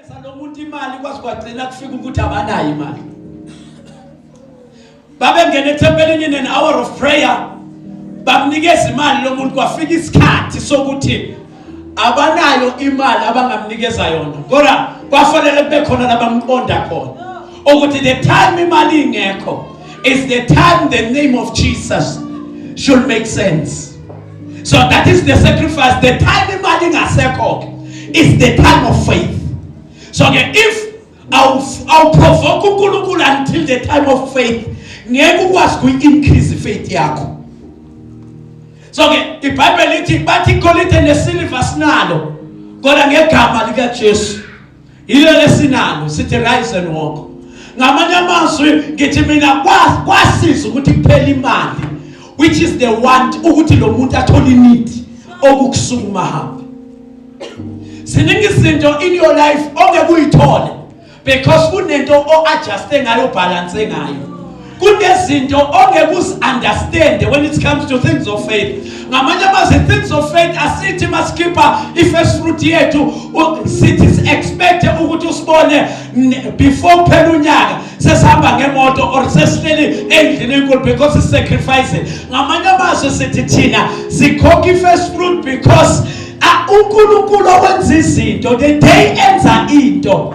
Eza lomuntu imali kwaze kwagcina kufika ukuthi abanayo imali. Babengena ethempelini in an hour of prayer. Bamnikeza imali lomuntu kwafika isikhathi sokuthi abanayo imali abangamnikeza yona. Kodwa kwafanele kube khona labamqonda khona. Ukuthi the time imali ingekho is the time the name of Jesus should make sense. so that is the sacrifice the time imali ingasekho ke is the time of faith so ke if awuprovoke uNkulunkulu until the time of faith ngeke ukwazi ku increase faith yakho so ke iBhayibheli lithi bathi igolide nesilver sinalo kodwa ngegama lika Jesu Yilo lesinalo sithi rise and walk. Ngamanye amazwi ngithi mina kwasiza ukuthi kuphela imali which is the want ukuthi lo muntu athole need okukusukuma hamba. Ziningi izinto in your life ongeke uyithole because kunento o adjust ngayo balance ngayo kunezinto ongeke uzi-understande when it comes to things of faith ngamanye amazwi things of faith asithi masikhipha i-first fruit yethu sithi si-expecte ukuthi usibone before kuphela unyaka sesihamba ngemoto or sesihleli endlini enkulu because sisacrificing ngamanye amazwi sithi thina sikhokha i-first fruit because unkulunkulu owenza izinto the day enza into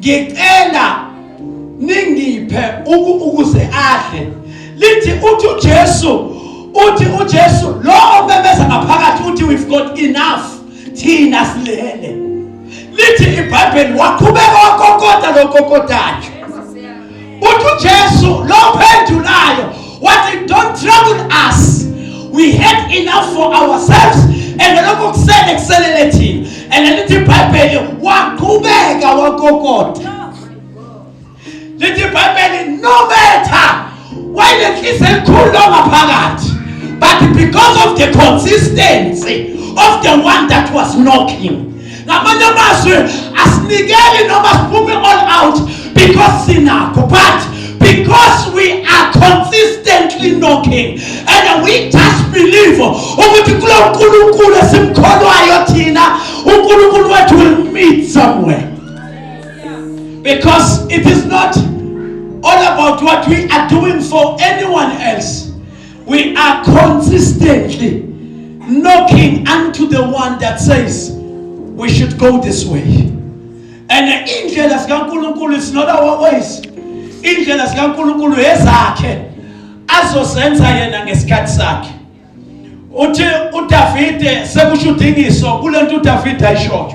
ngicela ningiphe ukuze adle lithi uthi uJesu uthi uJesu lo omemeza ngaphakathi uthi we've got enough thina silele lithi iBhayibheli waqhubeka wakokoda lokokodayo uthi uJesu lo phendulayo wathi don't trouble us we had enough for ourselves and lokho kusele kuselele thina and lithi ibhayibheli waqhubeka wakokota lithi ibhayibheli no matter wayenenhliziyo enkulu longaphakathi but because of the consistency of the one that was knocking ngamanye amazwi asinikeli noma siphuphe all out because sinakho but because we are consistently knocking and we just believe ukuthi kulo nkulunkulu esimkholwayo thina unkulunkulu wethu will meet somewhere because it is not all about what we are doing for anyone else We are consistently knocking unto the one that says we should go this way. And indlela zikaNkulunkulu is not our ways. Indlela zikaNkulunkulu ezakhe azozenza yena ngesikhathi sakhe. Uthi uDavide sekusho udingiso kulento uDavide ayishoyo.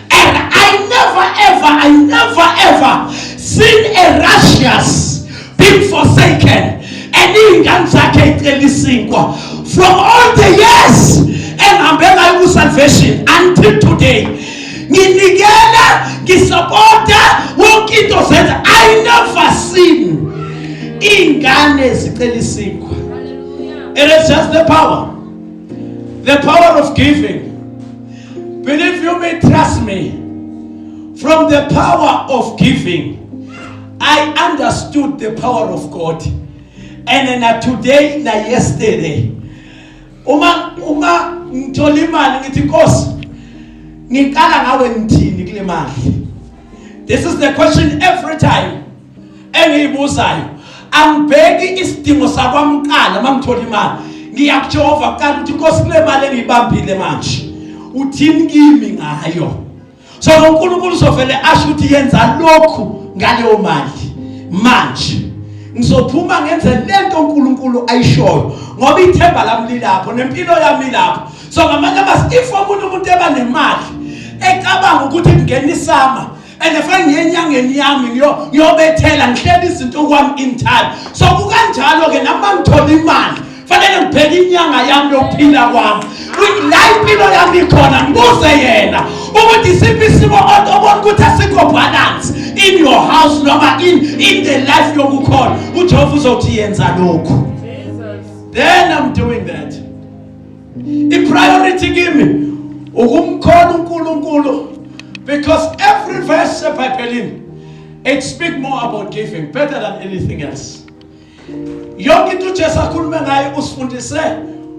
And I never ever, I never ever seen a righteous being forsaken. And iy'ngane zakhe ey'cela isinkwa from all the years engihambe ngayo ku-salvation until today nginikela ngisapota wonke into zenza i never seen iy'ngane zicela isinkwa it is just the power The power of giving. Believe you me, trust me. From the power of giving, I understood the power of God. And na today na yesterday. Uma uma ngithola imali ngithi Nkosi ngiqala ngawe ngithini kule mali. This is the question every time. engiyibuzayo angibheki isidingo sakwamqala mamthola imali ngiya kuJehova kuqala ukuthi Nkosi kule mali engiyibambile manje uthini kimi ngayo so uNkulunkulu uzovele asho ukuthi yenza lokhu ngaleyo mali manje ngizophuma ngenze lento uNkulunkulu ayishoyo ngoba ithemba lami lilapho nempilo yami lapho so ngamanye amasi if omunye umuntu eba nemali ecabanga ukuthi kungena isama and if ngiye enyangeni yami ngiyobethela ngihlela izinto okwami in time so kukanjalo-ke nami bangithola imali fanele ngibheke inyanga yami yokuphila kwami la impilo yami ikhona ngibuze yena ukuthi isiphi isimo obona ukuthi asikho balance in your house noma in, in the life yokukhona ujehova uzothi yenza lokhu then i'm doing that ipriority kimi ukumkhona uNkulunkulu because every verse eBhayibhelini it speak more about giving better than anything else yonke into uJesu akhulume ngayo usifundise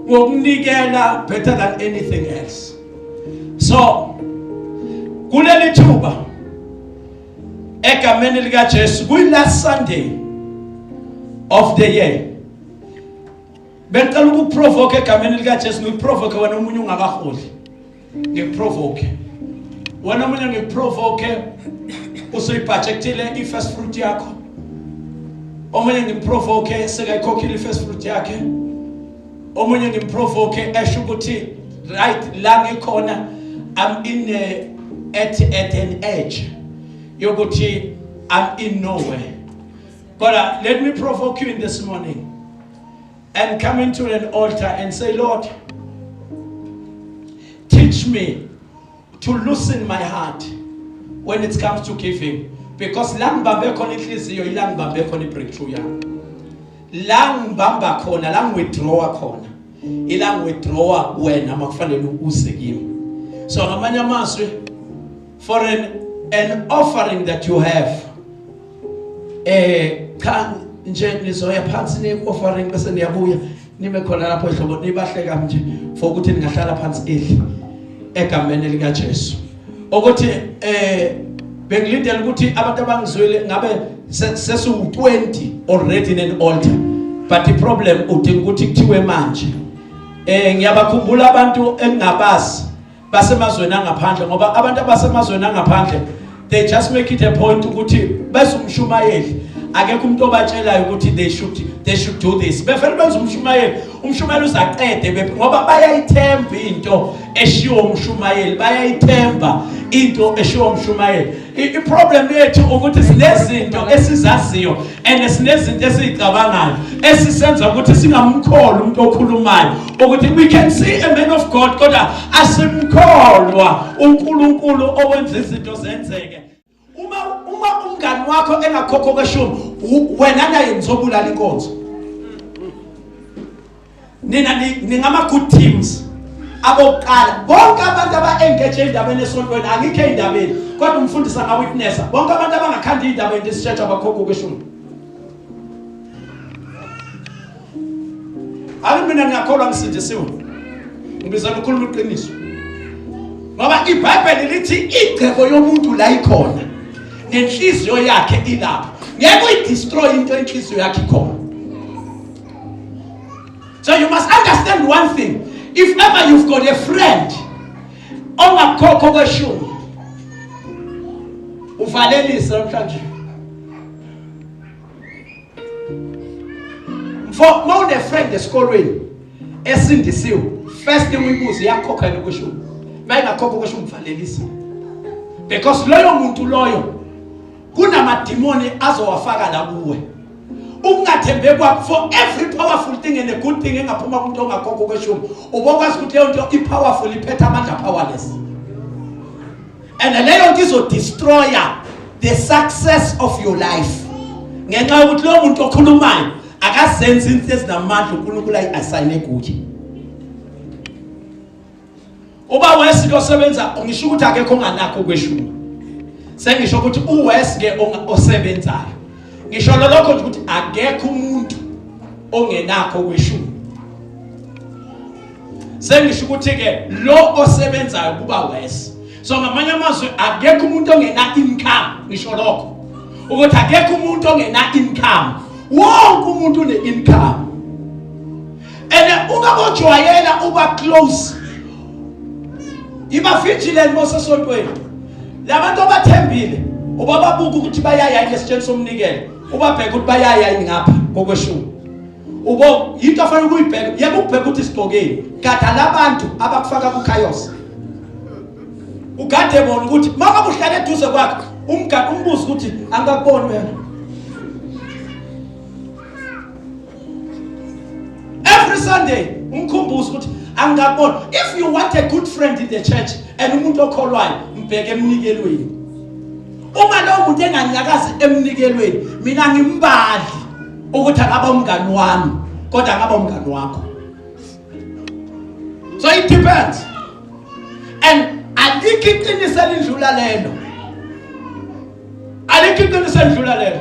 ngokunikela better than anything else so kuleli thuba egameni likaJesu kuyi last Sunday of the year Bengicela ukuprovoke egameni lika Jesu ngiprovoke wena omunye ungakaholi. Ngiprovoke. Wena omunye ngiprovoke usuyibhajektile ifirst fruit yakho. Omunye ngimprovoke sekayikhokhile ifirst fruit yakhe. Omunye ngimprovoke esho ukuthi right la ngikhona I'm in a, at at an edge yokuthi I'm in nowhere. Kodwa let me provoke you in this morning. and coming to an altar and say, Lord, teach me to loosen my heart when it comes to giving. Because la ngibambe khona inhliziyo ila ngibambe khona ibreakthrough yami. La ngibamba khona, la ngiwithdrawa khona. Ila ngiwithdrawa wena makufanele uze kimi. So ngamanye amazwi for an, an offering that you have eh cha nje nizoya phansi ne offering bese niyabuya nime khona lapho ehlobo nibahleka nje for ukuthi ningahlala phansi edli egameni lika Jesu ukuthi eh bengilindele ukuthi abantu abangizwele ngabe sesu 20 already in an altar but the problem udinga ukuthi kuthiwe manje eh ngiyabakhumbula abantu engingabazi basemazweni angaphandle ngoba abantu abasemazweni angaphandle they just make it a point ukuthi bese umshumayeli akekho umuntu obatshelayo ukuthi they should they should do this befela benza umshumayeli umshumayeli uzaqede ngoba bayayithemba into eshiwo umshumayeli bayayithemba into eshiwo umshumayeli iproblem yethu ukuthi sinezinto esizaziyo and sinezinto esizicabangayo esisenza ukuthi singamkholi umuntu okhulumayo ukuthi we can see a man of god kodwa asimkholwa unkulunkulu owenza izinto zenzeke uma uma umngani wakho engakhokho kweshumi wena naye nizobulala inkonzo nina ningama-good teams abokuqala bonke abantu aba-engage endabeni esontweni angikho ey'ndabeni kodwa umfundisi angawitnessa bonke abantu abangakhanda iy'ndaba into isitshetha abakhokho kweshumi ake mina ngiyakholwa ngisindisiwe ngibizela ukhuluma iqiniso ngoba ibhayibheli lithi igcebo yomuntu la ikhona nenhliziyo yakhe ilapho ngeke uyidestroye into enhliziyo yakhe ikhona So you must understand one thing. If ever you've got a friend ongakhokho kweshumi uvalelise namhlanje. Mfo mawune friend esikolweni esindisiwe first thing uyibuze yakhokha yini kweshumi. Bayingakhokha kweshumi uvalelise. Because loyo muntu loyo kunamadimoni azowafaka la kuwe ukungathembe kwakho for every powerful thing and a good thing engaphuma kumuntu ongakhokho kweshumi ubokwazi ukuthi leyo nto i-powerful iphetha amandla powerless and leyo nto izodestroya the success of your life ngenxa yokuthi lowo muntu okhulumayo akazenzi into ezinamandla unkulunkulu ayi-asayine kuye uba wesi losebenza ngisho ukuthi akekho onganakho kweshumi sengisho ukuthi uwesi ke osebenzayo ngisho lolokho nje ukuthi akekho umuntu ongenakho kweshumi sengisho ukuthi ke lo osebenzayo kuba wesi so ngamanye amazwi akekho umuntu ongena income ngisho lokho ukuthi akekho umuntu ongena income wonke umuntu une income and uma bojwayela uba close iba vigilant bosesontweni labantu abathembile ubababuka ukuthi bayaya yini esitsheni somnikelo ubabheka ukuthi bayaya yini ngapha kokweshumi ubo yinto afanele ukuyibheka yeke ukubheka ukuthi sigqokeni gada labantu abakufaka kuchaos ugade bona ukuthi maka kuhlale eduze kwakhe umgade umbuzo ukuthi angakuboni wena every sunday umkhumbuzo ukuthi angingaboni if you want a good friend in the church and umuntu okholwayo mbheke emnikelweni uma lowo muntu enganyakazi emnikelweni mina ngimbali ukuthi akaba umngani wami kodwa akaba umngani wakho so it depends and alikho iqiniso elidlula lelo alikho iqiniso elidlula lelo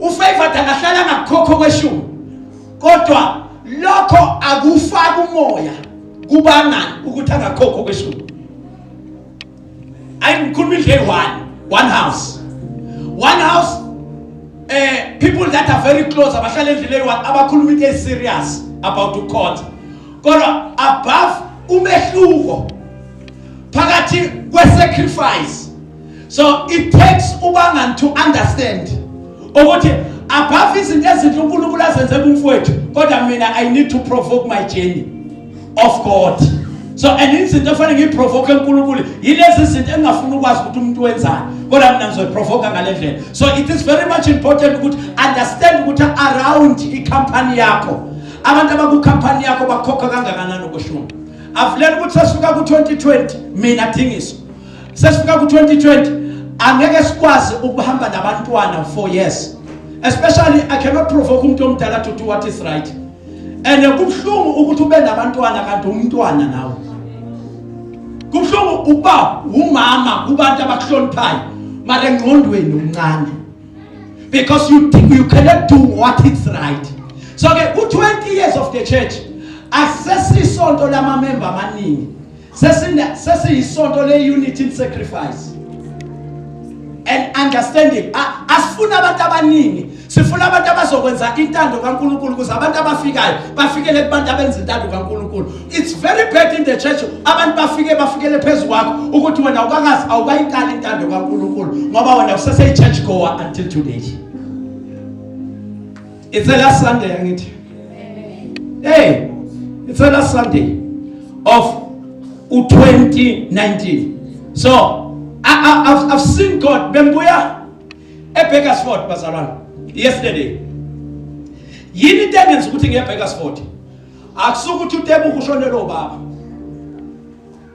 ufavored angahlala ngakukhokho kweshumi kodwa lokho akufaki umoya kubangani ukuthi angakhokho kweshumi ayi ngikhuluma indle one one house one house eh people that are very close abahlala endlini eyi abakhuluma into serious about ukhonza kodwa above umehluko phakathi kwesacrifice so it takes ubangani to understand ukuthi above izinto ezinhle uNkulunkulu azenze kumfowethu kodwa mina i need to provoke my journey of god so and izinto efanele ngiyiprovoke uNkulunkulu yilezi zinto engingafuni ukwazi ukuthi umuntu wenzani kodwa mina ngizoyiprovoka ngale ndlela so it is very much important ukuthi understand ukuthi around i-company yakho abantu abakukhampani yakho bakhokha kangakanani ukushuma avulela ukuthi sasuka ku-2020 mina thingiso sesifika ku 2020 angeke sikwazi ukuhamba nabantwana for years especially i cannot provoke umuntu omdala to do what is right and kubuhlungu ukuthi ube nabantwana kanti umntwana nawe kubuhlungu uba umama kubantu abakuhloniphayo mara engqondweni umncane because you you cannot do what is right so ke ku 20 years of the church asesisonto lamamemba amaningi sesiyisonto le-unity in sacrifice and understanding asifuni abantu abaningi sifuna abantu abazokwenza intando kaNkuluNkulu ukuze abantu abafikayo bafikele kubantu abenza intando kaNkuluNkulu it's very bad in the church abantu bafike bafikele phezulu kwakho ukuthi wena awukakazi awukayiqali intando kaNkuluNkulu ngoba wena usese church goer until today It's a last Sunday angithi. Hey, it's a last Sunday of u2019. So, I, I, I've, I've seen God bembuya eBakersford bazalwane yesterday. Yini into engenza ukuthi ngiye eBakersford? Akusukuthi uTebuku ushonele ubaba.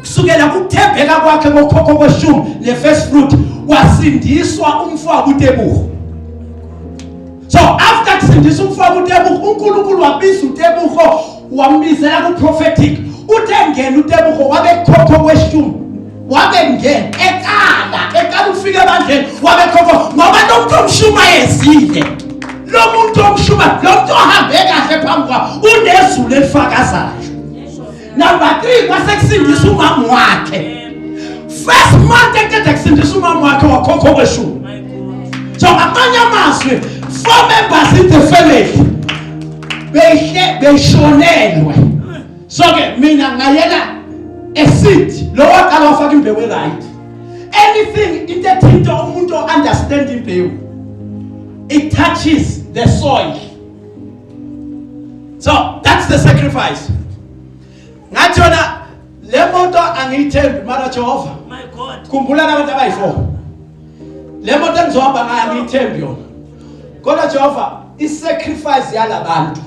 kusukela kuthembeka kwakhe kokhokho kweshumi ne-first fruit wasindiswa umfowabo utebuhu so after kusindisa umfowabo utebuhu unkulunkulu wabiza utebuho wambizela kuprophetic uthe ngena utebuho wabekhokho kweshumi wabengena ekala ekala ufike ebandleni wabekhokho ngoba lo muntu omshumayezile lo muntu omshuma lo muntu ohambe kahle phambi kwabo unezulu elifakazayo number 3 kwasekusindisa umama wakhe first month eqeda kusindisa umama wakhe wakhokha okweshumi so ngamanye amazwi four members in the family behle beshonelwe so ke mina ngayela eseed lo waqala wafaka imbewu right anything into ethinta umuntu understand imbewu it touches the soil so that's the sacrifice ngathi yona le moto angiyithembi mara Jehova my god khumbula abantu abayi4 le moto engizohamba ngayo angiyithembi yona kodwa Jehova i sacrifice yalabantu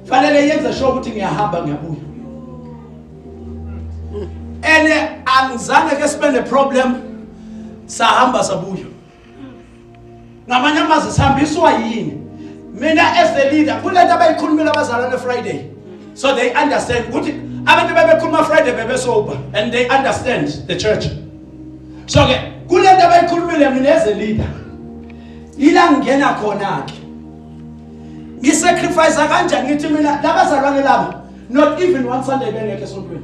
fanele yenze sure ukuthi ngiyahamba ngiyabuya ene angizange ke sibe ne problem sahamba sabuya ngamanye amazwi sihambiswa yini mina as the leader kulento abayikhulumela abazalwane friday so they understand ukuthi abantu bebekhuluma friday bebesober and they understand the church so ke kulento abayikhulumile mina as a leader ila ngingena khona ke ngisacrifice kanjani ngithi mina labazalwane laba not even one sunday bengekho esontweni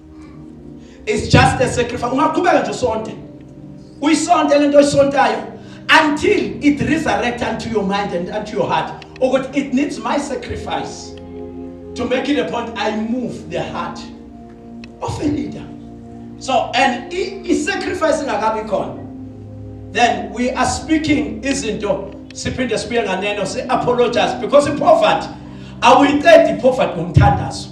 it's just a sacrifice ungaqhubeka nje usonte uyisonte lento oyisontayo until it resurrect unto your mind and unto your heart ukuthi it needs my sacrifice to make it a point i move the heart of a leader so and i-sacrifice ingakabi khona then we are speaking izinto siphinde sibuye nganeno si-apologize because i-poverty awuyiqedi i-poverty ngomthandazo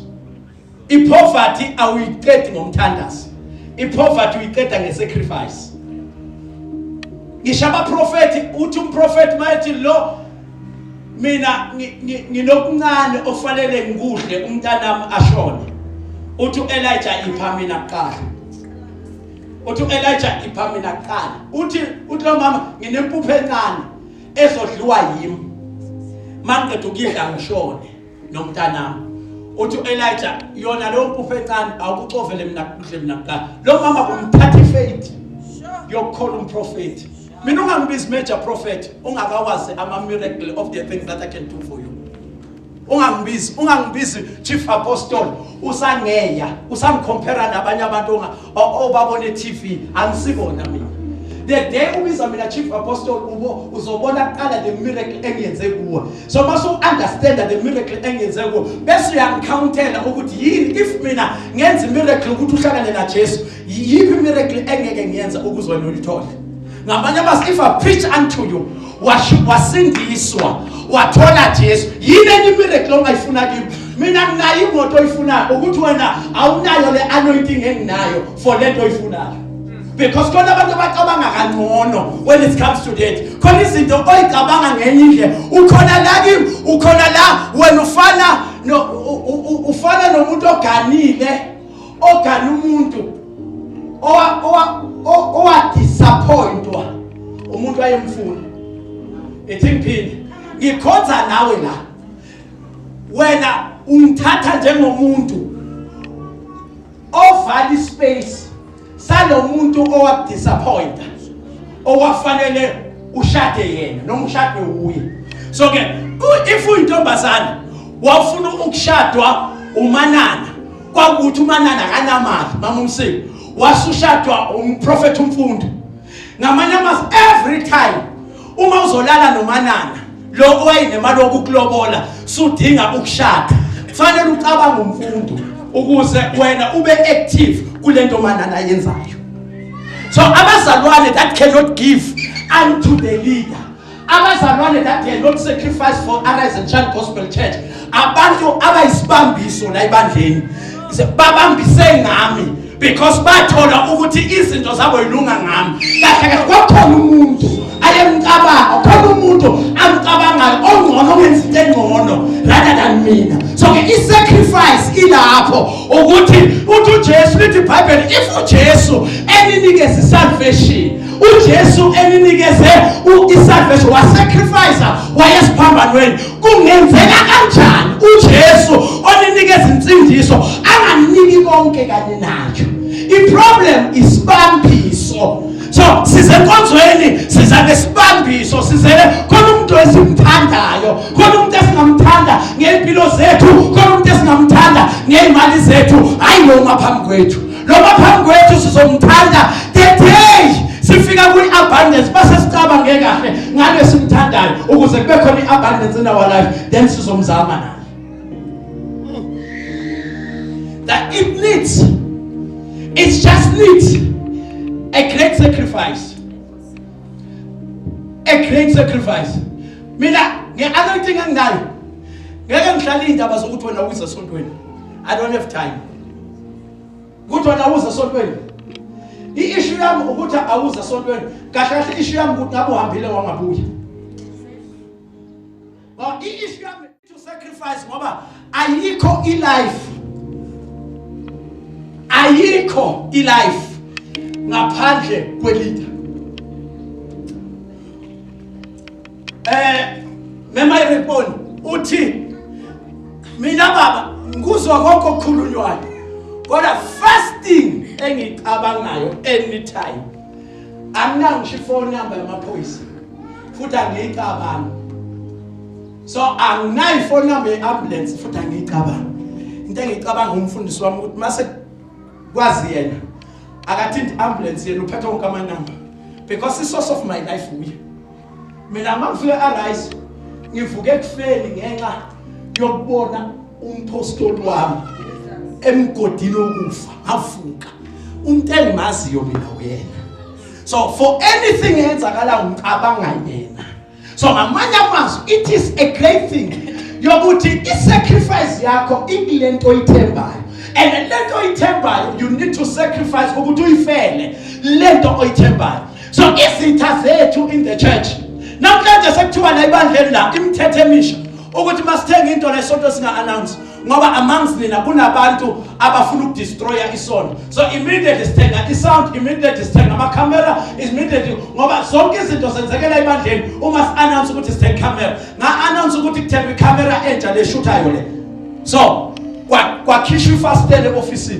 Ipoverty awuyiqedi ngomthandazo. Ipoverty uyiqeda ngesacrifice. Ngisho abaprofethi uthi umprofethi mayethi lo mina nginokuncane ofanele ngikudle umntanami ashone. Uthi uElijah ipha mina kuqala. Uthi uElijah ipha mina kuqala. Uthi uthi lo mama nginempupho encane ezodliwa yimi. Maqedwe ukudla ngishone. nomntanami uthi uElijah yona leyo mpufu encane awukucovele mina kuhle mina kuqala lo mama kumthatha ifaith yokukhola umprofeti mina ungangibizi major prophet ungakawazi ama miracle of the things that I can do for you ungangibizi ungangibizi chief apostle usangeya usangicompare nabanye abantu obabone TV angisibona mina the day ubiza mina chief apostle ubo uzobona kuqala the miracle engiyenze kuwe so mase uunderstanda the miracle engiyenze kuwe bese uyangicountela ukuthi yini if mina ngenza imiracle ukuthi uhlangane najesu yiphi imiracle engeke ngiyenza ukuze wena ulithole ngamanye amazwi if i preach unto you wasindiswa wathola Jesu yini enye miracle ongayifuna kimi mina nginayo imoto oyifunayo ukuthi wena awunayo le anointing enginayo for lento oyifunayo because khona abantu abacabanga kangcono when it comes to that khona izinto oyicabanga ngenye indlela ukhona la kimi ukhona la wena ufana no ufana nomuntu oganile ogana umuntu owadisappointwa umuntu ayemfuna ethi ngiphinde ngikhonza nawe la wena ungithatha njengomuntu ovala ispace salomuntu owakudisappointa owafanele ushade yena noma ushade wuye so ke if uyintombazane wafuna ukushadwa umanana kwakuthi umanana kanamali mama umsile wasushadwa umprofethi umfundo ngamanye amazwi every time uma uzolala nomanana lo owayenemali wokukulobola sudinga ukushada kufanele ucabange umfundo ukuze wena ube active kule nto manana ayenzayo so abazalwane that cannot give unto the leader abazalwane that cannot sacrifice for arise and child gospel church abantu abayisibambiso la ebandleni babambise ngami because bathola ukuthi izinto zabo yilunga ngami kahle kahle kwakhona umuntu ayemcabanga khona umuntu amcabangayo ongcono wenza into engcono rather than mina so ke i-sacrifice ilapho ukuthi uthi ujesu lithi ibhayibheli if ujesu eninikeza i-salvation ujesu eninikeze i-salvation wasacrifice wayesiphambanweni Kungenzeka kanjani uJesu oninika izinsindiso anganiki konke kanye nayo? Iproblem isibambiso. So sizenkonzweni sizake sibambiso sizele khona umuntu esimthandayo, khona umuntu esingamthanda ngempilo zethu, khona umuntu esingamthanda ngezimali zethu, hayi noma phambi kwethu. noma phambi kwethu sizomthanda the day sifika kwi-abundance base sicabange kahle ngale simthandayo ukuze kube khona i-abundance in our life then sizomzama naye that it needs it just needs a great sacrifice a great sacrifice mina nge-anointing enginayo ngeke ngihlale iy'ndaba zokuthi wena uyize esontweni i don't have time Kuthi wena awuze esontweni. I-issue yami ukuthi awuze esontweni. Kahle kahle i-issue yami ukuthi ngabe uhambile wangabuya. Ba i-issue yami to sacrifice ngoba ayikho i-life. Ayikho i-life ngaphandle kwelitha. Eh mema ireponi uthi mina baba ngikuzwa konke okukhulunywayo kodwa first thing engicabangayo anytime anginayo ngisho ifoni number yamaphoyisa futhi angiyicabangi so anginayo ifoni number ye-ambulance futhi angiyicabangi into engiyicabanga umfundisi wami ukuthi mase kwazi yena akathinti ambulance yena uphethe wonke amanamba because i-source of my life uye mina mangifike arise ngivuke ekufeni ngenxa yokubona umpostoli wami emgodini wokufa avuka umuntu engimaziyo mina uyena so for anything eyenzakala ngicabanga yena so ngamanye amazwi it is a great thing yokuthi i-sacrifice yakho ikule nto oyithembayo and le nto oyithembayo you need to sacrifice ukuthi uyifele le nto oyithembayo so izitha zethu in the church namhlanje sekuthiwa la ibandleni la imithetho emisha ukuthi masithenga into la isonto singa announce ngoba amongst nina kunabantu abafuna ukudestroya isonto so immediately sithenga isound immediately sithenga ama camera immediately ngoba zonke izinto zenzekela ebandleni uma si announce ukuthi sithenga camera nga announce ukuthi kuthenga i camera entsha leshuthayo le so kwakhishwa ifastele office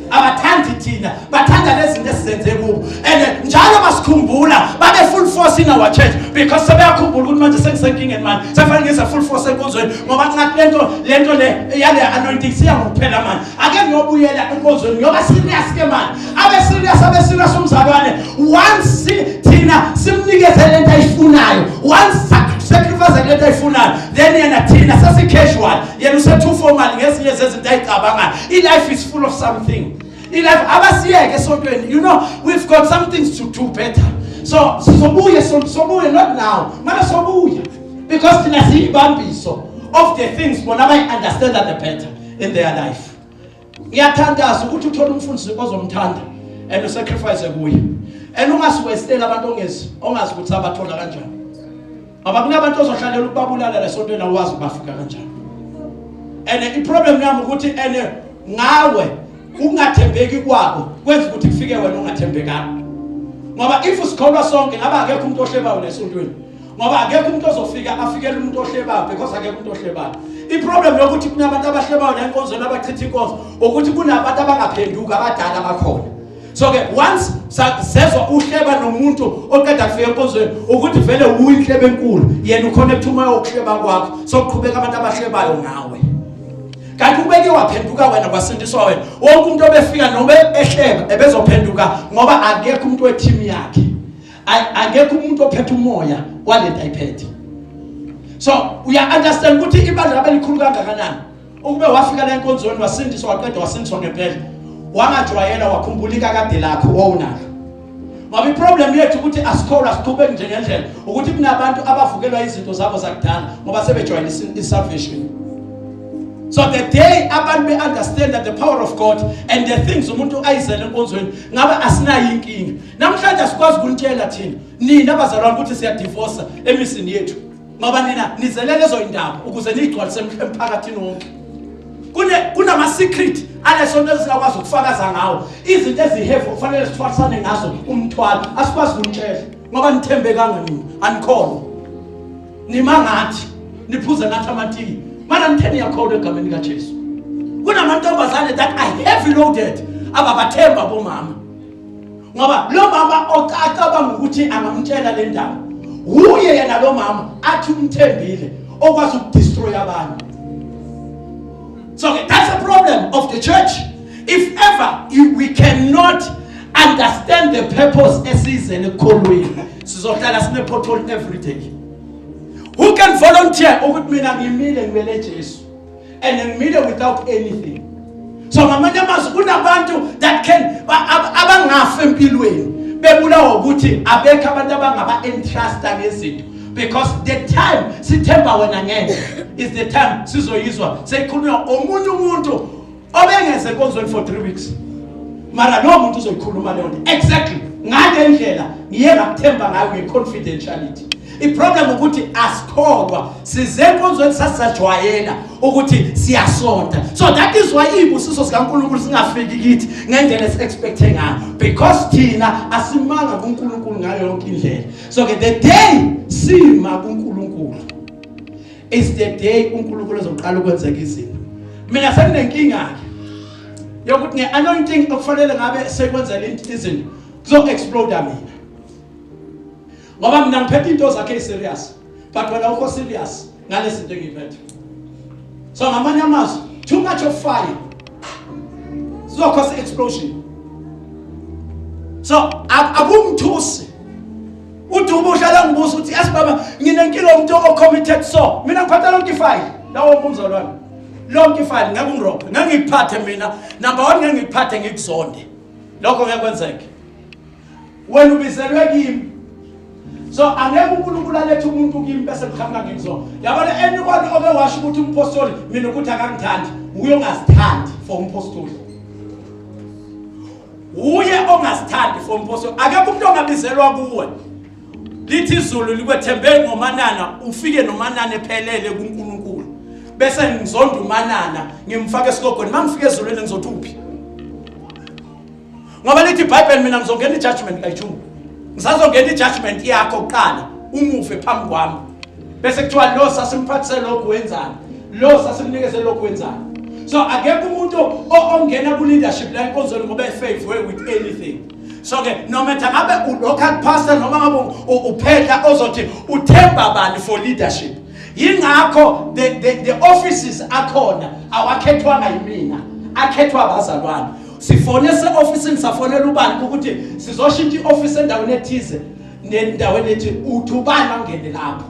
abathandi thina bathanda lezinto esizenze kubo and njalo basikhumbula babe full force in our church because sebeyakhumbula ukuthi manje sengisenkingeni manje sefanele ngize full force enkonzweni ngoba ngathi lento lento le yale anointing siya ngokuphela manje ake ngiyobuyela enkonzweni ngiyoba serious ke manje abe serious abe serious umzalwane once thina simnikeze lento ayifunayo once sacrifice lento ayifunayo then yena thina sesi casual yena usethu formal ngezinye zezinto ayicabangayo ilife is full of something ilife abasiyeke esontweni you know we've got some things to do better so sizobuye sobuye not now mara sobuya because thina siyibambiso of the things bona bayi understand the better in their life ngiyathandaza ukuthi uthole umfundisi ozomthanda and usacrifice kuye and ungasiwestela abantu ongezi ongazi ukuthi abathola kanjani ngoba kunabantu ozohlalela ukubabulala lesontweni awazi ubafika kanjani and i problem yami ukuthi and ngawe ukungathembeki kwabo kwenza ukuthi kufike wena ungathembekanga ngoba if sikholwa sonke ngaba akekho umuntu ohlebayo lesontweni ngoba akekho umuntu ozofika afikele umuntu ohlebayo because akekho umuntu ohlebayo iproblem yokuthi kunabantu abahlebayo nenkonzweni abachitha inkonzo ukuthi kunabantu abangaphenduka abadala bakhona so ke once sezwa uhleba nomuntu oqeda kufika enkonzweni ukuthi vele uyinhlebe enkulu yena uconnect umoya wokuhleba kwakho sokuqhubeka abantu abahlebayo ngawe kanti ubeke waphenduka wena kwasindiswa wena wonke umuntu obefika nobe ehleba ebezophenduka ngoba akekho umuntu weteam yakhe akekho umuntu ophethe umoya walento ayiphethe so uya understand ukuthi ibandla labelikhulu kangakanani ukube wafika la enkonzweni wasindiswa waqeda wasindiswa ngempela wangajwayela wakhumbulika kade lakho wawunalo ngoba iproblem yethu ukuthi asikholwa siqhubeki nje ngendlela ukuthi kunabantu abavukelwa izinto zabo zakudala ngoba sebejwayele isalvation so the day abantu be-understand that the power of god and the things umuntu ayizele enkonzweni ngabe asinayo inkinga namhlanje asikwazi ukunitshela thina nina abazalwane ukuthi siyadivosa emisini yethu ngoba nina nizele lezo indaba ukuze niyigcwalise emphakathini wonke kune kunama secret alesonto esingakwazi ukufakaza ngawo izinto ezihefu kufanele sithwalisane ngazo umthwalo asikwazi ukumtshela ngoba nithembekanga nini anikholwa nima ngathi niphuze ngathi amatiki mana nitheni yakholwa egameni likaJesu kunamantombazane that are heavy loaded ababathemba bomama ngoba lo mama ocacabanga ukuthi angamtshela le ndaba wuye yena lo mama athi umthembile okwazi ukudestroy abantu so okay, that's a problem of the church if ever you, we cannot understand the purpose esizele ekukholweni sizohlala sinepothole every day who can volunteer ukuthi mina ngimile ngibele Jesu and ngimile without anything so ngamanye amazwi kunabantu that can abangafi empilweni bebulawa ukuthi abekho abantu abangaba-entrusta ngezinto because the time sithemba wena ngeke is the time sizoyizwa seyikhulunywa omunye umuntu obengeze enkonzweni for three weeks mara lowo muntu uzoyikhuluma leyo nto exactly ngale ndlela ngiye ngakuthemba ngayo nge-confidentiality Iproblem ukuthi asikholwa size enkonzweni sasajwayela ukuthi siyasonta. So that is why ibusiso sikaNkulunkulu singafiki kithi ngendlela esiexpect ngayo because thina asimanga kuNkulunkulu ngayo yonke indlela. So ke the day sima kuNkulunkulu is the day uNkulunkulu ezoqala ukwenzeka izinto. Mina senginenkinga ke yokuthi ngeanointing okufanele ngabe sekwenzela izinto kuzo explode mina. ngoba mina ngiphethe into zakhe iserious but wena ukho serious ngalezinto engiyiphethe so ngamanye amazwi too much of fire sizokhosa explosion so akungithusi uthi ubuhle la ngibuza ukuthi yes baba nginenkinga umuntu ocommitted so mina ngiphatha lonke ifile lawo umbuzo lona lonke ifile ngeke ungirobhe ngeke ngikuphathe mina number 1 ngeke ngikuphathe ngikuzonde lokho ngeke kwenzeke wena ubizelwe kimi so angeke unkulunkulu alethe umuntu kimi bese kuqhamuka kimi so yabona anyone oke washo ukuthi umpostoli mina ukuthi akangithandi uye ongazithandi for umpostoli uye ongazithandi for umpostoli akekho umuntu ongabizelwa kuwe lithi izulu likwethembe ngomanana ufike nomanana ephelele kunkulunkulu bese ngizonda umanana ngimfake esigogweni uma ngifika ezulwini ngizothi uphi ngoba lithi ibhayibheli mina ngizongena i-judgment kayijungu ngisazongena i-judgment yakho kuqala umufe phambi kwami bese kuthiwa lo sasimphathise lokhu wenzani lo sasimnikeze lokhu wenzani so akekho umuntu ongena ku-leadership la enkonzweni ngoba efavor with anything so ke nometha ngabe u-local pastor noma ngabe uphehla ozothi uthemba bani for leadership yingakho the, the, the offices akhona awakhethwanga yimina akhethwa abazalwane sifone se-ofisini safonela ubani ukuthi sizoshintsha i-ofisi endaweni ethize nendaweni ethi uthi ubani angene lapho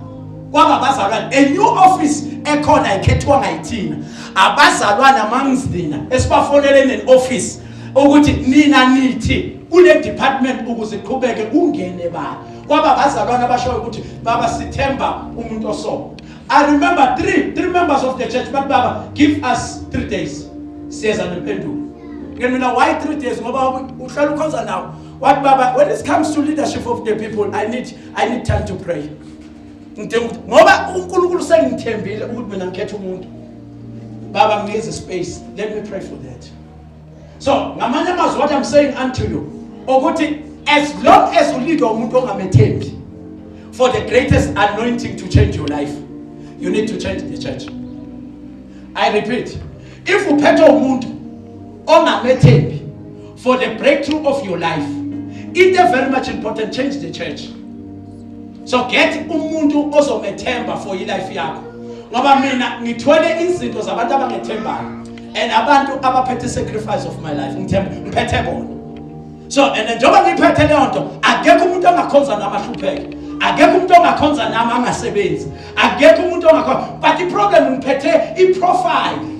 kwaba abazalwane a new office ekhona ayikhethwa ngayithina abazalwane amangizina esibafonele ne-office ukuthi nina nithi kule department ukuze iqhubeke ungene bani kwaba abazalwane abashoyo ukuthi baba sithemba umuntu osoko I remember three, three members of the church, but Baba, give us three days. Says an impendulo. Ngeke mina why three days ngoba uhlala ukhonza nawo. What Baba, when it comes to leadership of the people, I need I need time to pray. Ngidinga ukuthi ngoba uNkulunkulu sengithembile ukuthi mina ngikhetha umuntu. Baba ngize space. Let me pray for that. so ngamanye amazwi what i'm saying unto you ukuthi as long as ulidwa umuntu ongamethembi for the greatest anointing to change your life you need to change the church i repeat if uphethe umuntu ongamethembi for the breakthrough of your life it is very much important change the church so get umuntu ozomethemba for ilife yakho ngoba mina ngithwele izinto zabantu abangethembayo and abantu abaphethe sacrifice of my life ngithemba ngiphethe bona so and njengoba ngiphethe leyo nto akekho umuntu ongakhonza nami ahlupheke akekho umuntu ongakhonza nami angasebenzi akekho umuntu ongakhonza but iproblem ngiphethe iprofile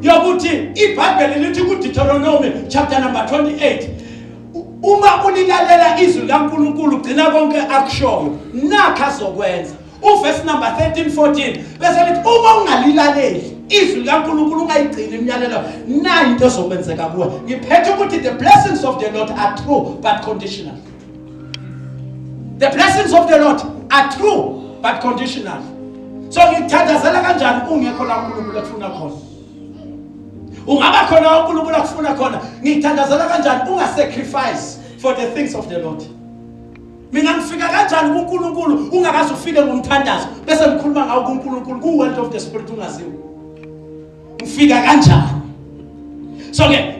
yokuthi ibhayibheli lithi kudeuteronomy chapter number 28 uma ulilalela izwi likaNkuluNkulu gcina konke akushoyo nakho azokwenza uvesi number 13 14 bese lithi uma ungalilaleli izwi likankulunkulu ungayigcini imiyalelo nayo into ezokwenzeka kuwe ngiphethe ukuthi the blessings of the lord are true but conditional the blessings of the lord are true but conditional so ngikuthandazela kanjani ungekho la unkulunkulu ekufuna khona ungaba khona la unkulunkulu akufuna khona ngikuthandazela kanjani ungasacrifice for the things of the lord mina ngifika kanjani kuNkulunkulu ungakaze ufike ngomthandazo bese ngikhuluma ngawo kuNkulunkulu ku world of the spirit ungaziwa ngifika kanjani so ke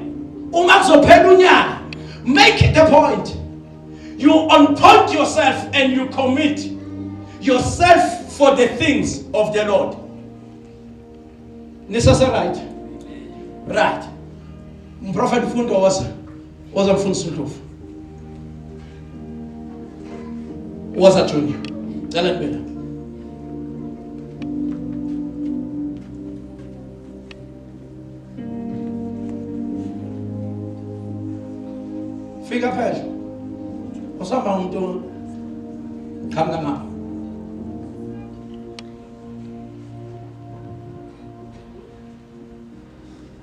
uma kuzophela unyaka make the point you unpoint yourself and you commit yourself for the things of the Lord nisase right right mprofeti mfundo wasa Waza kufuna isindlovu. Waza Junior. Cela kubela. Fika phela. Usaba umuntu qhamuka ngapha.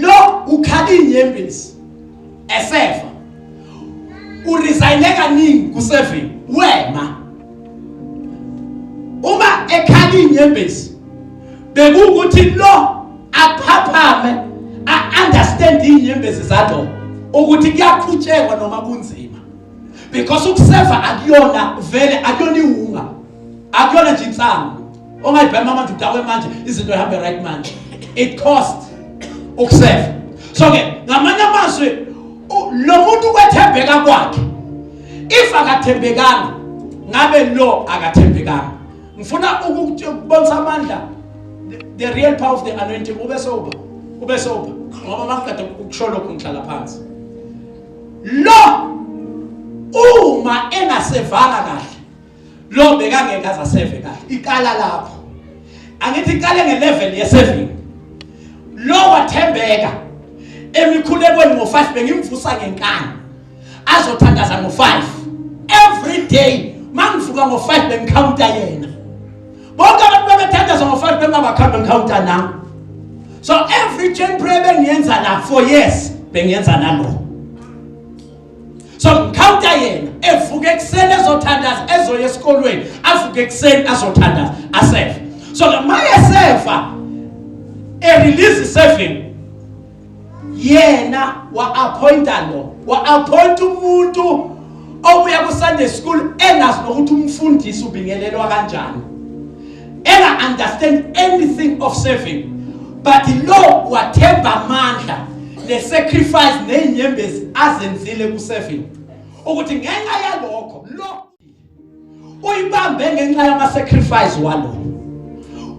lo ukhala inyembezi esefa uresign kaningi kuseven wema uma ekhala inyembezi bekuwukuthi lo aphaphame a-understand iy'nyembezi zalo ukuthi kuyaqhutshekwa noma kunzima because ukuseva akuyona vele akuyona iwunga akuyona nje insangu ongayibhema manje udawe manje izinto ihambe right manje it cost ukuseva so ke ngamanye amazwi lo muntu kwethembeka kwakhe if akathembekanga ngabe lo akathembekanga ngifuna ukubonisa amandla the real power of the anointing ube soba ube soba ngoba makukade ukusho lokho ngihlala phansi lo uma engasevanga kahle Lo bekangeke aza save kahle. Iqala lapho. Angithi iqale nge level ye saving. Lo wathembeka emikhulekweni ngo5 bengimvusa ngenkani. Azothandaza ngo5. Every day mangivuka ngo5 bengikhawunta yena. Bonke abantu bebethandaza ngo5 bengabakhawunta ngikhawunta nami. So every chain prayer bengiyenza la for years bengiyenza nalo. so ngikhawnta yena evuke ekuseni ezothandaza ezoya esikolweni avuke ekuseni azothandaza asefa so maye sefa erelease seven yena wa-appointa lo wa-appointa umuntu obuya ku-sunday school engazi nokuthi umfundisi ubingelelwa kanjani enga understand anything of serving but lo wathemba amandla le sacrifice nezinyembezi azenzile ku serving ukuthi ngenxa yalokho lo uyibambe ngenxa yama sacrifice walo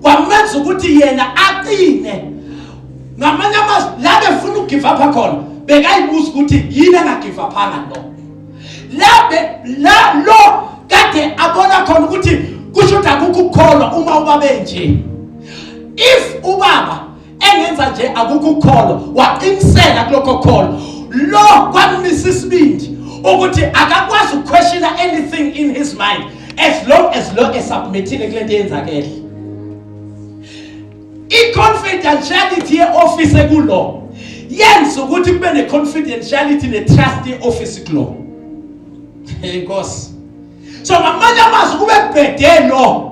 kwamenza ukuthi yena aqine ngamanye amazwi la befuna ugive up khona bekayibuza ukuthi yini engagive up phana lo labe la lo kade abona khona ukuthi kusho ukuthi akukho ukukholwa uma ubabe nje if ubaba engenza nje akukho ukukholwa waqiniseka kulokho kholwa lo kwamisa isibindi ukuthi akakwazi ukuquestiona anything in his mind as long as lo esubmithile kule nto yenzakele I-confidentiality ye-office ekulo yenza ukuthi kube ne-confidentiality ne-trust ye-office kulo inkosi so ngamanye amazwi kube kubhede lo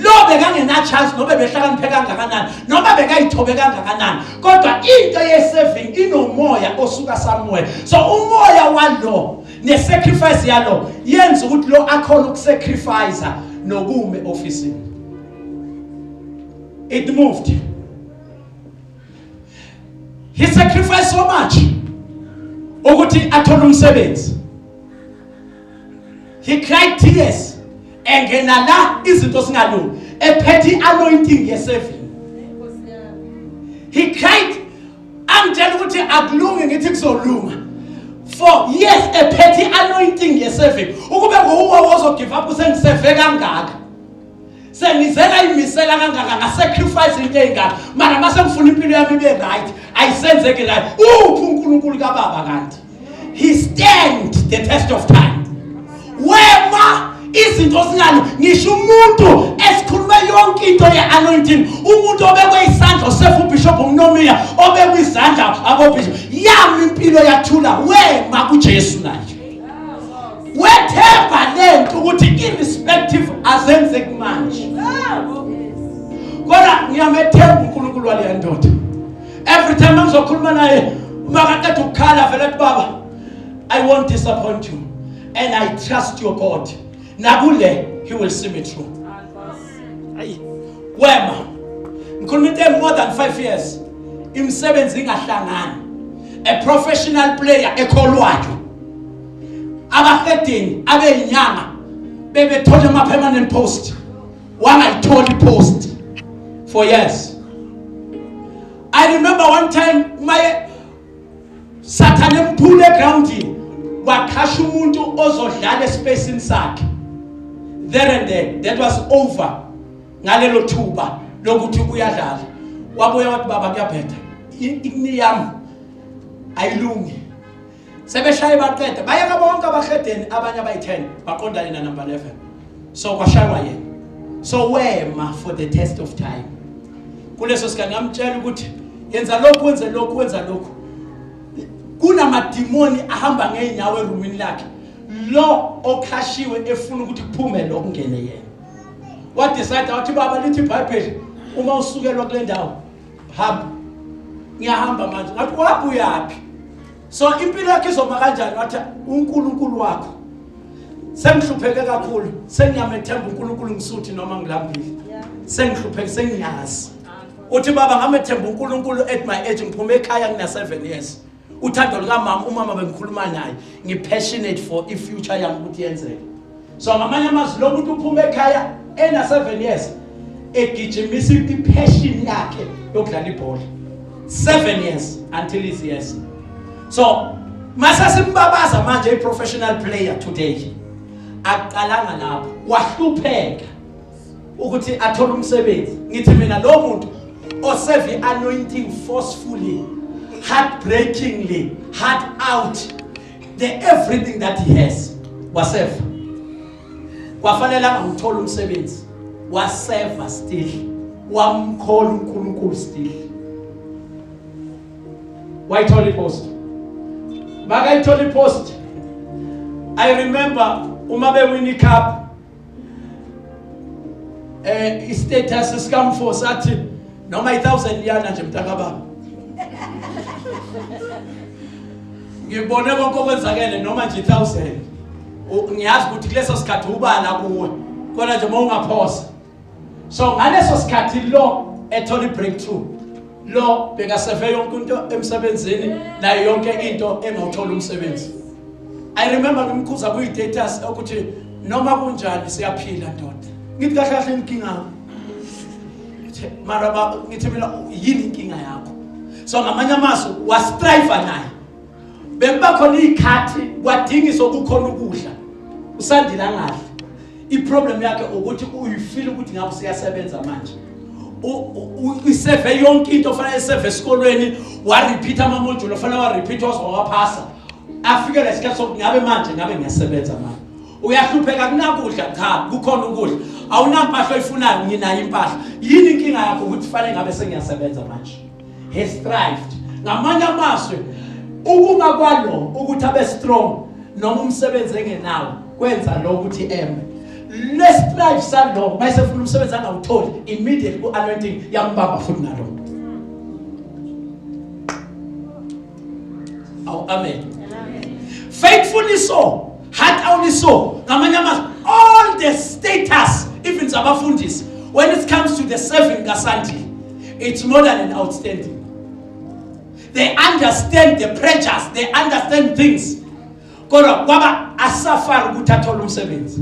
lo bekangenachance nobe behlakaniphe kangakanani noma bekayithobe kangakanani kodwa into ye-saving inomoya osuka somewhere so umoya walo ne-sacrifice yalo yenza ukuthi lo akhona ukusacrifice nokume ofisini It moved. He sacrificed so much ukuthi athole umsebenzi. He cried tears engena la izinto singalungi ephethe anointing yesevini. He cried angitshela ukuthi akulungi ngithi kuzolunga for yes ephethe anointing yesevini ukube nguwe ozogive up usengiseve kangaka sengizela imisela kangaka ngasacrifice into eyingaka mara mase ngifuna impilo yami ibe right ayisenzeki right uphi uNkulunkulu kababa kanti he stand the test of time wema izinto sinalo ngisho umuntu esikhulume yonke into ye-anointing umuntu obekwe isandla osefa ubishop umnomiya obekwe izandla abobishop yami impilo yathula wema kujesu naye wethemba lento ukuthi irrespective azenzeki manje kodwa ngiyamethemba uNkulunkulu waleya ndoda every time angizokhuluma naye uma kaqeda ukukhala vele athi baba i won't disappoint you and i trust your god nakule he will see me through ayi wema ngikhuluma into more than 5 years imisebenzi ingahlangani a professional player ekholwayo abahedeni abeyinyanga bebethole ama permanent post wangayitholi post for years i remember one time my Sathane mphule egroundini wakhasha umuntu ozodlala espacini sakhe there and then that was over ngalelo thuba lokuthi uyadlala wabuya wathi baba kuyabhetha ikni yami ayilungi sebeshaye baqeda bayeka bonke abahedeni abanye abayi-10 baqondane nanumber 11 so kwashaywa yena so wema for the test of time kuleso sikhathi ngamtshela ukuthi yenza lokhu wenze lokhu wenza lokhu kunamadimoni ahamba ngeenyawo erumini lakhe lo okhashiwe efuna ukuthi kuphume lo kungene yena wadecide wathi baba lithi ibhayibheli uma usukelwa kule ndawo hamba ngiyahamba manje ngathi waphi uyaphi so impilo yakhe izoma kanjani wathi uNkulunkulu wakho sengihlupheke kakhulu sengiyamethemba uNkulunkulu ngisuthi noma ngilambile sengihlupheke sengiyazi uthi baba ngamethemba uNkulunkulu at my age ngiphume ekhaya ngina 7 years uthando lukamama umama bengikhuluma naye ngipassionate for ifuture yami ukuthi yenzeke so ngamanye amazwi lo muntu uphuma ekhaya ena 7 years egijimisa ipassion yakhe yokudlala ibhola 7 years until his years so masesimbabaza manje i professional player today aqalanga lapho wahlupheka ukuthi athole umsebenzi ngithi mina lo muntu oseve anointing forcefully heartbreakingly heart out the everything that he has wasefa kwafanele angamthola umsebenzi wasefa still wamkhola uNkulunkulu still wayithola ipost makayithola ipost i remember uma bewini cup eh istatus sikamfo sathi noma i1000 liyana nje mntakababa ngibone konke okwenzakele noma nje 1000 ngiyazi ukuthi kuleso sikhathi ubala kuwe kodwa nje uma ungaphosa so ngaleso sikhathi lo ethola i breakthrough lo bekaseve yonke into emsebenzini nayo yonke into engawuthola umsebenzi i remember ngimkhuza kuyi status ukuthi noma kunjani siyaphila ndoda ngithi kahle kahle inkinga mara ba ngithi mina yini inkinga yakho so ngamanye amaso wastrive naye bekuba khona iy'khathi kwadingiswa kukhona ukudla usandile angadli iproblem yakhe ukuthi uyifile ukuthi ngabe useyasebenza manje iseve yonke into ofanele iseve esikolweni warepeatha amamodulo ofanele warepeatha waze wawaphasa afikele isikhathi sokuthi ngabe manje ngabe ngiyasebenza manje uyahlupheka kunakudla cha kukhona ukudla awunampahla oyifunayo nginayo impahla yini inkinga yakho ukuthi fanele ngabe sengiyasebenza manje has thrived ngamanye amazwi ukuma kwalo ukuthi abe strong noma umsebenzi engenawo kwenza lo ukuthi eme lesitrive salo mayise funa umsebenzi angawutholi immediately ku-anointing yambamba futhi nalo awu amen faithfulness so heart only so ngamanye amazwi all the status even zabafundisi when it comes to the serving kasandile it's more than an outstanding they understand the pressures they understand things kodwa kwaba asafari ukuthi athole umsebenzi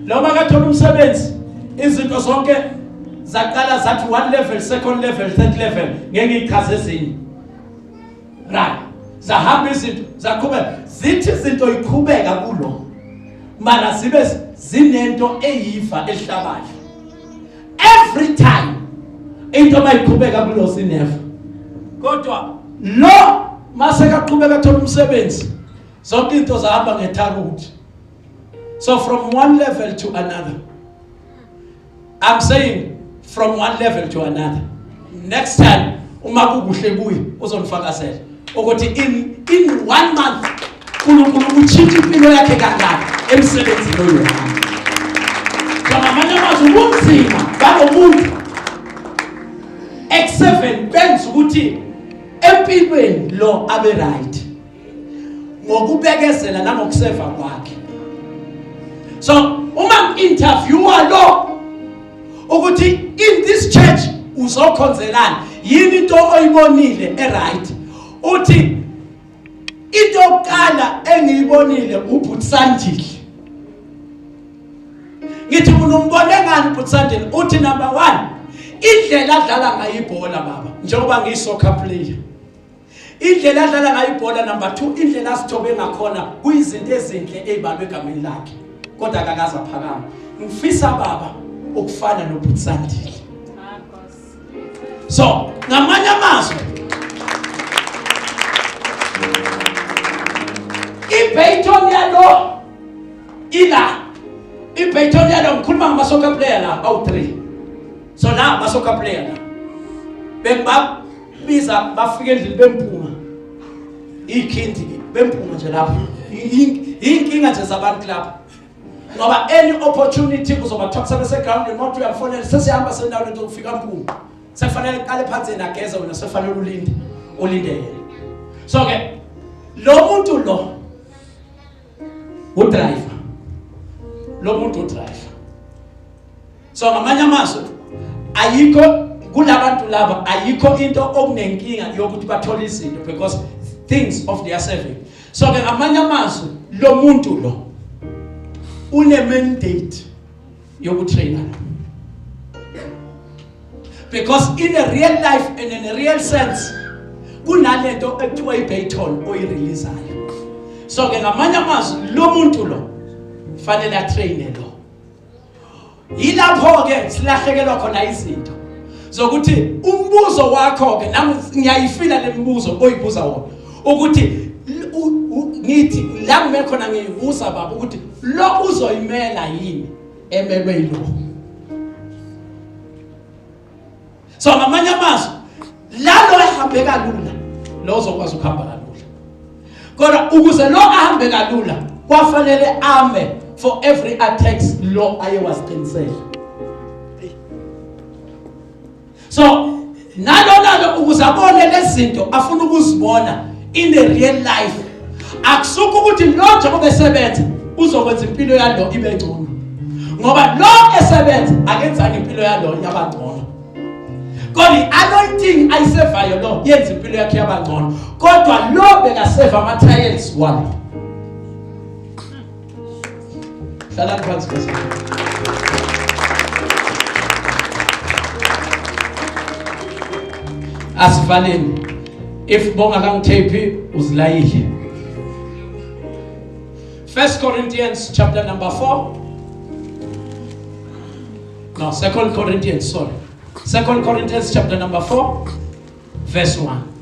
noma kathola umsebenzi izinto zonke zaqala zathi one level second level third level ngeke ichaze ezinye right zahamba izinto zaqhubeka zithi izinto iqhubeka kulo mara zibe zinento eyiva ehlabayo every time into mayiqhubeka kulo sineva kodwa lo mase kaqhubeka thola umsebenzi zonke into zahamba ngethakuthi so from one level to another I'm saying from one level to another next time uma kukuhle kuye uzonifakazela ukuthi in in one month uNkulunkulu utshintsha impilo yakhe kangaka emsebenzini oyohamba ngamanye amazwi ubunzima balomuntu ex7 benza ukuthi empilweni lo abe right ngokubekezela nangokuseva kwakhe so uma interviewer lo ukuthi in this church uzokhonzelana yini into oyibonile eright uthi into yokuqala engiyibonile ubhuti Sandile ngithi unombone ngani ubhuti Sandile uthi number 1 indlela adlala ngayo ibhola baba njengoba ngiyisoccer player Indlela adlala ngayo ibhola number 2 indlela asithobe ngakhona kuyizinto ezinhle ezibalwe egameni lakhe kodwa akakaza phakama ngifisa baba ukufana noButsandile so ngamanye amazwi iBayton yalo ila iBayton yalo ngikhuluma ngama soccer player la awu 3 so la ama soccer player la bengibaba biza bafike endlini bemphuma ikhindi bemphuma nje lapho inkinga nje zabantu lapho ngoba any opportunity uzobathatha bese ground not uyafonela sesihamba sendaweni zokufika mpungu sekufanele iqale phansi nageze wena sekufanele ulinde ulinde yena so ke lo muntu lo udriver lo muntu udriver so ngamanye amazwi ayikho kulabantu laba ayikho into okunenkinga yokuthi bathole izinto because things of their serving so ke ngamanye amazwi lo muntu lo une mandate yokutrainer because in a real life and in a real sense kunalento ekuthiwa iBayton oyireleasayo so ke ngamanye amazwi lo muntu lo fanele atraine lo yilapho ke silahlekelwa khona izinto zokuthi umbuzo wakho ke nami ngiyayifila lemibuzo oyibuza wona ukuthi ngithi la kume khona ngiyibuza baba ukuthi lo uzoyimela yini emelwe yilokho so ngamanye amazwi lalo ehambe kalula lo uzokwazi ukuhamba kalula kodwa ukuze lo ahambe kalula kwafanele ame for every attacks lo aye wasiqinisela so nalona ke ukuze abone lezinto afuna ukuzibona in the real life akusuka ukuthi lo njengoba esebenza uzokwenza impilo yalo ibe ngcono ngoba lo esebenza akenzanga impilo yalo yaba ngcono kodwa i-anointing ayisevayo lo yenza impilo yakhe yaba ngcono kodwa lo bekaseva ama-trials walo Hlala phansi bese. Asivaleni. If bonga kangithephi uzilayile. First Corinthians chapter number 4 No, Second Corinthians, sorry. Second Corinthians chapter number 4 verse 1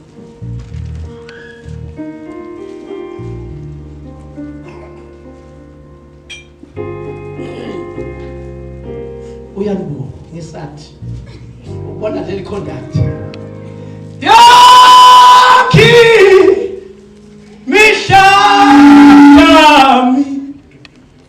uyalibuka ngesathi ubona leli conduct yakhi mihla